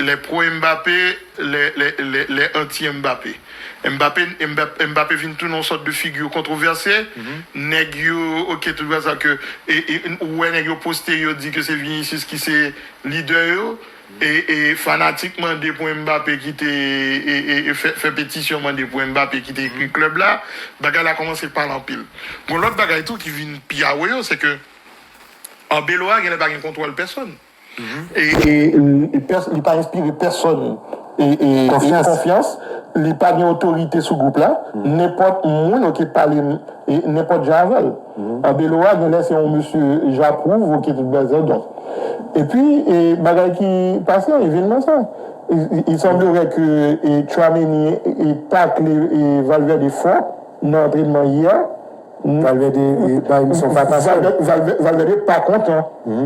Les pro Mbappé les anti Mbappé Mbappé Mbappé vin tounen yon sòt de figure kontrovèse nèg yo ok tout bagay sa ke ou wè nèg yo poste yo di ke se Vinicius ki se lidè yo e fanatik mande pou Mbappé kite fè petisyon mande pou Mbappé kite ekri klèb la bagay la kòmanse pale anpil gon lòt bagay tou ki vin pi awoyo se ke Arbeloa genlè pa gen kontwòl pèsòn. li pa enspire pèsòn konfyans, li pa gen otorite sou gwoup la, nenpòt moun ok k pale nenpòt jan avè l. An Belo a genlè se yon mesye j'approuve ok tout bagay donk. Epi bagay ki pase an evènman sa il semblerait ke Tchouaméni takle Valverde fò nan antrenman yè. Valverde bay misye yon fatra sa yo. Valverde pa kontan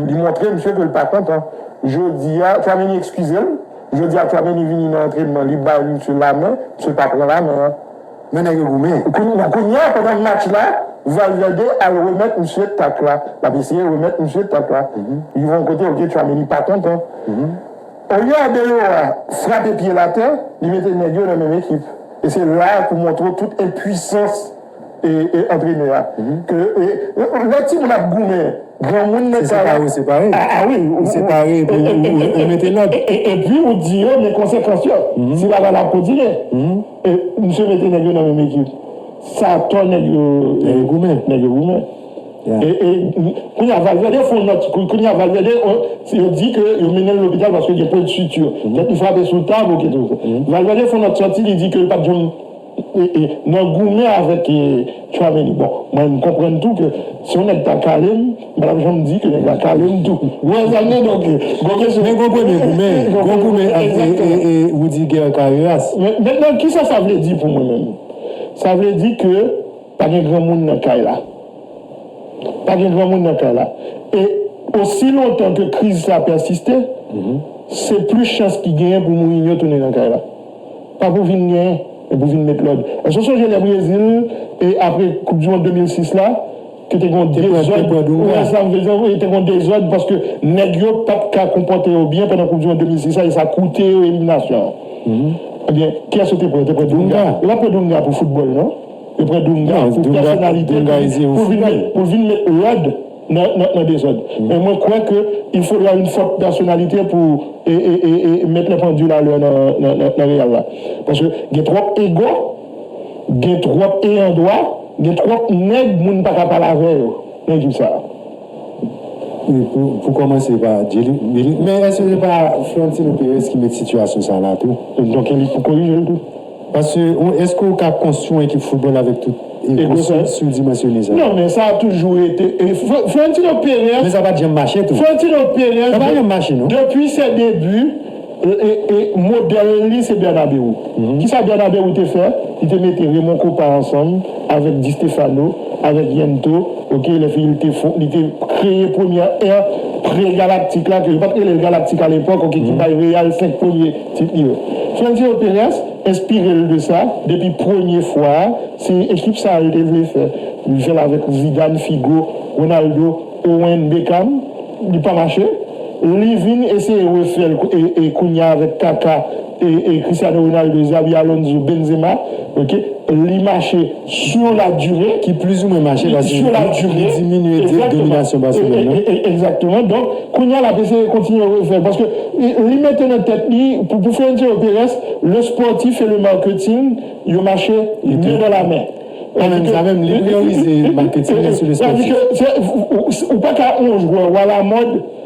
li montre misye ke li pa kontan jodi a Tchouaméni ekskize l jodi a Tchouaméni vini nan antrenman li bay misye lamen misye pa pran lamen an men nèg yo goumen kounye a pandan match la Valverde al remèt misye tak la l ap eseye remèt misye tak la rive yon kote ok Tchouaméni pa kontan olye Arbeloa frape pye l atè li mete nèg yo nan menm ekip e se la pou montre w tout enpwisans e antrenè a ke lè timoun ap goumen granmoun nan sa a. Se separe ou separe. A wi. Ou separe epi ou mete lòd. Epi ou di yo men konsekans yo. Si bagay la ap kontinye. Misye mete nèg yo nan menm ekip. Sa atò nèg yo. Nèg yo goumen. Nèg yo goumen. E kounye a Valverde fon nòt. Kounye a Valverde si yo di ke yo mennen l lopital paske gen pwent suture. Tèt li frape sou tab oke tout. Valverde fon nòt sòti li di ke l pat janm. nan goumen avèk Tchouameni bon mwen m konprann tou ke si yon nèg ta kale m m pa tap janm di ke nèg la kale m tou ou wè sa m vle di donk gon kesyon men gon premye goumen gon goumen avèk Roudiger Carreras mètnan kisa sa vle di pou mwen menm sa vle di ke pa gen granmoun nan kay la pa gen granmoun nan kay la e osi lontan ke kriz sa pèsiste se plis chans ki genyen pou Mourinho tounen nan kay la. Pa pou vin gen, men pou vin met lòd. Èske w sonje lè Brezil, apre koup di mond 2006 la, ke te gen yon dezòd, ou wè sa m vle di, te gen yon dezòd paske nèg yo pa t ka konpòte yo byen pandan koup di mond 2006 la e sa koute yo eliminasyon an? Ebyen, kiyès yo te pran? Yo te pran Dunga. Yo pa t pran Dunga pou foutbòl non. Yo pran Dunga pou pèsonalite pou l vin met lòd. nan dezòd. Men mwen kwè ke il faudra une forte personnalité pou mettre les pendules à l'heure nan Real la. Paske gen twòp ego, gen twòp eyan dwa, gen twòp nèg moun pa ka pale avè yo nan ekip sa a. Wi, pou kòmanse pa Djilly. Men èske se pa Florentino Perez ki met sitiyasyon sa a la tou? Donk e li pou korije l tou? Paske ou eske ou ka konstwi yon ekip football avek tout ego sa yo? Surdimensione sa. Non men sa a toujou rete Florentino Perez. Men sa pat janm mache tou. Florentino Perez. Sa pa janm mache non. Depi ses debuts model li se Bernabeu. Kisa Bernabeu te fè? Li te mete Raymond Kopa ansanm avek Di Stefano, avek Yento ok lè fini li te fon li te kreye premyè ère pre galactique la ke yo pat rele l galactique a lepok ok ki bay Real 5 premye Tit li yo. Florentino Perez enspire l de sa depi premye fwa a, se ekip sa a yo te vle fè. Li fè l avèk Zidane, Figo, Ronaldo, Owen, Beckham, li pa mache. Li vin eseye refè l kounye a avèk Kaka, Cristiano Ronaldo, Xabi Alonso, Benzema, ok, li mache. Sur la durée. Ki plizoumwen mache paske Sur la durée. li diminye di dominasyon Barcelone nan. Exactement. Exactement. Donk, kounye a l ap eseye kontinye refè l paske li mete nan tèt li pou pou Florentino Perez, le sportif et le marketing yo mache men dan la men. Pa menm sa menm, li priyorize marketing an sou le sportif. Ou pa ka on jwè, ou a la mode.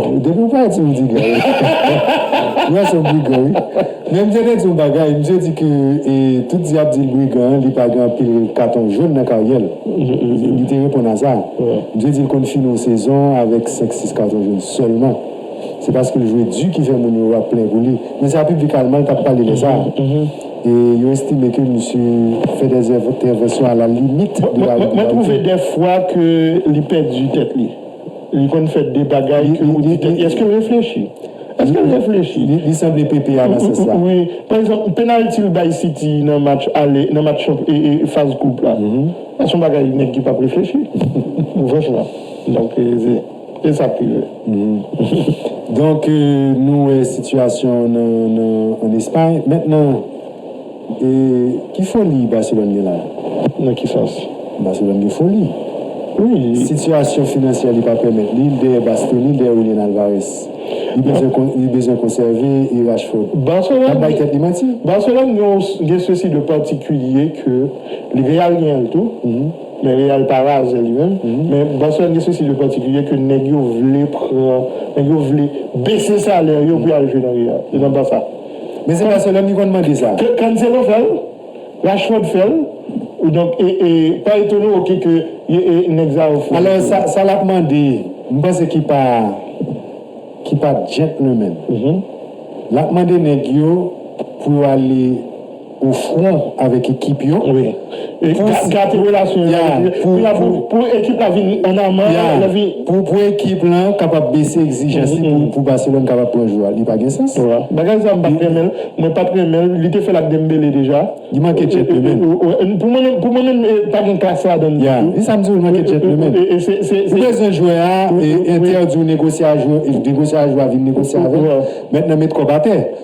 Depi ou pale ti midi gay. Yon sel brigan wi. Men mte te di yon bagay misye di ke tout di yap dil brigan an li pa gen anpil katon jon nan karyèl. Li te reponn a sa. Misye dil konn fini yon sezon avèk 5 6 katon jon sèlman. Se paskil jwe di ki fè moun yo ap plen pou li. Men sa piblik alman an tap pale lè sa. E yo estime ke misye fè dè entèvansyon a la limit de la règlemanti. Mwen twouve dè fwa ke li pèdi tèt li. Li konn fè de bagay ke ou di tèt li èske l reflechi? Èske l reflechi? Li sanble Pepe a nan sans la. Wi. Pa egzanp, penalti l bay City nan match ale, nan match faz koup la. Sa son bagay nèg ki pap reflechi. Franchman. Donk se sa k rive. Donk nou wè sitiyasyon an an Espay. Mentnan. E ki foli Barcelone gen la? Nan ki sans? Barcelone gen foli. Wi, li. Sitiyasyon finansyè li pa pèmèt li, li dèyè Bastoni, li dèyè Julian Alvarez. Li bezwen kon, li bezwen konsève e Rashford. Barcelone. L ap bay tèt li manti. Barcelone gen yon, gen ceci de particulier ke li Real gen l tou, men Real pa razè li menm, men Barcelone gen ceci de particulier ke nèg yo vle pran, nèg yo vle bese salè yo pou y al jwe nan Real, nan Barça. Men se Barcelone ki konn mande sa. Ke Cancelo fè l, Rashford fè l, donk pa etone w ke nèg sa yo fou. Alò sa lap mande, m panse ki pa ki pa gentleman. Lap mande nèg yo pou yo ale. Ou fran avèk ekip yo pou pou ekip la kapab bese egzijans li pou Barcelone kapab pran jwè a li pa gen sans. Li manke djèntlemen. Se sa m di w li manke djèntlemen. Ou bezwen jwè a Inter di w negosye a jwè a vin negosye avè w. Mèt nan met kòb atè.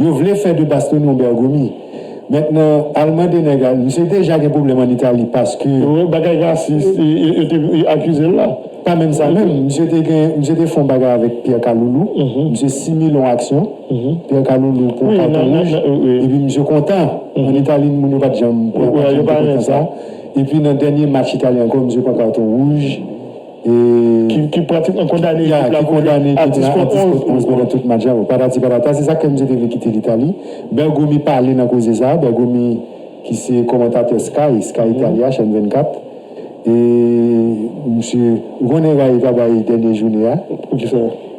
Yo vle fè de Bastogne yon Bergomi mentnan al mande nèg a misye deja gen pwoblèm an Itali paske. Wi bagay rasis yo te akizel la. Pa menm sa menm misye te gen misye te fon bagay avèk Pierre Kaloulou misye simile yon aksyon Pierre Kaloulou pran katon wouj epi misye kontan an Itali moun yo pat janm pran aksyon konsa epi nan dènye match Itali ankò misye pran katon wouj ki pratikman kondane ekip la pou atis kont 11 pandan tout match la, bon patati patata, se sa k fè misye te vle kite Litali. Bergomi pale nan koze sa, Bergomi ki se kòmantatè Sky, Sky Italia, chèn 24, e misye, ou konnen Rai pa bay dènye joune a. Poukisa?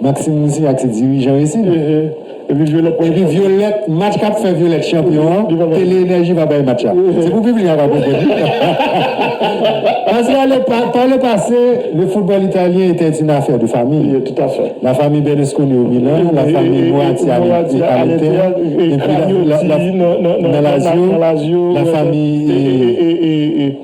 Maxime misye ak se dirijan yo isit. Epi violette Epi violette match kap fè violette chanpyon an tele enèji pa bay match la se pou piblik la pa konprann paske pa le pase le football italyen etè une affaire de famille la famille Berlusconi au Milan la famille Moratti à l'Inter epi la famille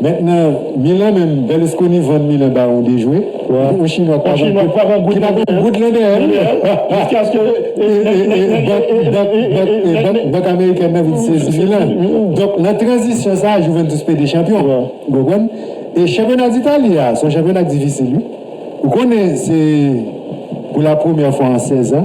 Met nan milan menm Berlusconi vann milan ba yon dejwe yon chinwa pa gen yon goud lan dèyè l jiskaske bank amerikèn nan vin sezi milan donk nan tranzisyon sa a juventus pede chanpyon ou konprann e chanpyona ditali a se yon chanpyona ki difisil wi ou konnen se pou la premyè fwa an 16 an.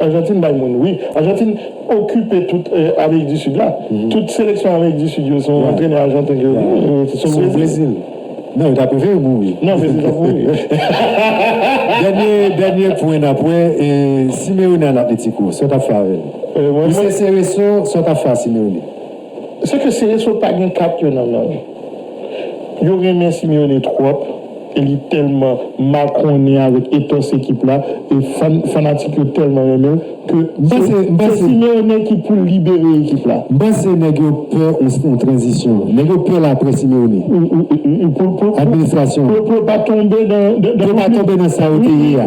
Argentine bay moun wi. Argentine okipe tout amerik di sud la. Tout seleksyon amerik di sud yo se yon antrenè argentine ki yo. Son brezil. Non yo ta prefere mouri. Non brezil ta mouri. Dènye dènye pwen nap wè e simeone al atletico sa w tap fè avèl. Ou se sereso sa w tap fè a simeone. Se ke Cerezo pa gen kat yo nan men l. Yo renmen Simeone twòp e li tèlman makonnen avèk ethos ekip la e fan fanatik yo tèlman renmen l ke se se Simeone ki pou libere ekip la. M panse nèg yo pè yon tranzisyon. Nèg yo pè l aprè Simeone. Administrasyon. Pou yo pa tonbe nan. Pou yo pa tonbe nan sa yo te ye a.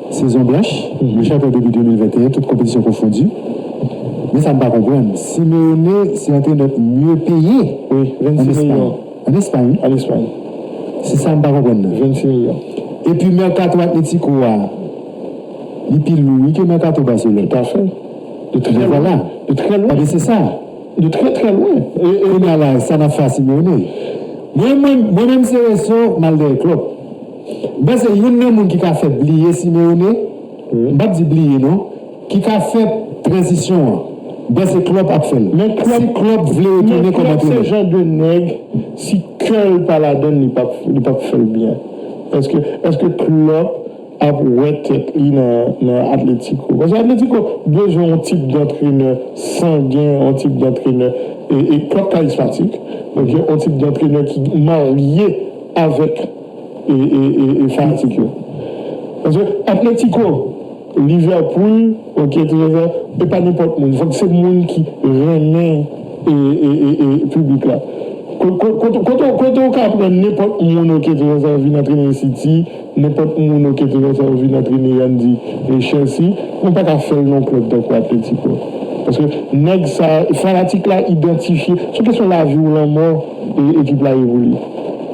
Sezon blanch, le chantè debi 2021 tout konpetisyon konfondi. Men sa m pa konprann, Simeone se antrenè k mye peye an Espay. An Espay wi. Se sa m pa konprann nan. E pi mèkato Atletiko a, li pi lou wi ke mèkato Barcelone. De trè lwen. De trè lwen. Paske se sa. De trè trè lwen. Kounya la sa n ap fè a Simeone? Mwen menm se Resso m al dèyè Klopp. Ben se youn nan moun ki ka fè bliye Simeone, m pap di bliye non, ki ka fè tranzisyon an. Ben se Klopp ap fè l. Si Klopp vle retounen kòm antrenè. Men Klopp se jan de nèg si kè l pa ladan l li pap fè l byen. Eske eske Klopp ap wè tèt li nan Atletico? Paske Atletico bezwen yon tip dantrenè sangen, yon tip dantrenè e Klopp karismatik. Donk yon tip dantrenè ki marye avèk. e fanatik yo. Paske Atletico, Liverpool, ok trezò e pa nenpòt moun fòk se moun ki renmen e piblik la. Kote ou ka pran nenpòt moun ok trezò vin antrene City, nenpòt moun ok trezò vin antrene an di Chelsea, nou paka fèl non klèb tankou Atletico. Paske nèg sa, fanatik la idantifye, se kesyon lavi ou lanmò ekip la ye pou li.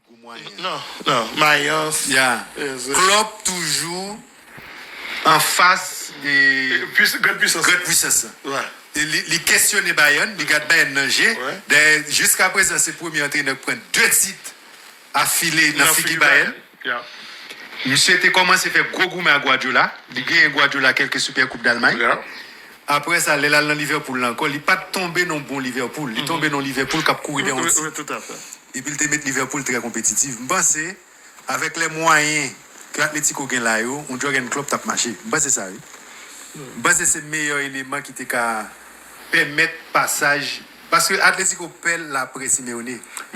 gou mwayen. Nan nan mayans yeah klòp toujou anfas grand pwisans lan e li kesyone Bayern li gad Bayern nan je dayè jiska prezan se premye antrenè k pran 2 tit afile nan figi Bayern misye te kòmanse fè gwo goumen ak Guardiola li genyen Guardiola kèlke Super koup Dalmay. Apre sa, lè l al nan Livèpoul la ankò, li pa t tonbe nan yon bon Livèpoul. Li tonbe nan yon Livèpoul k ap kouri dèyè yon ti. Epi l te met Livèpoul trè konpetitif. M panse, avèk lè mwayen ke Atletiko gen la yo, yon Jurgen Klopp t ap mache. M panse sa wi. M panse se meyè eleman ki te ka. Pèmèt pasaj. Paske Atletiko pè laprè Simeone.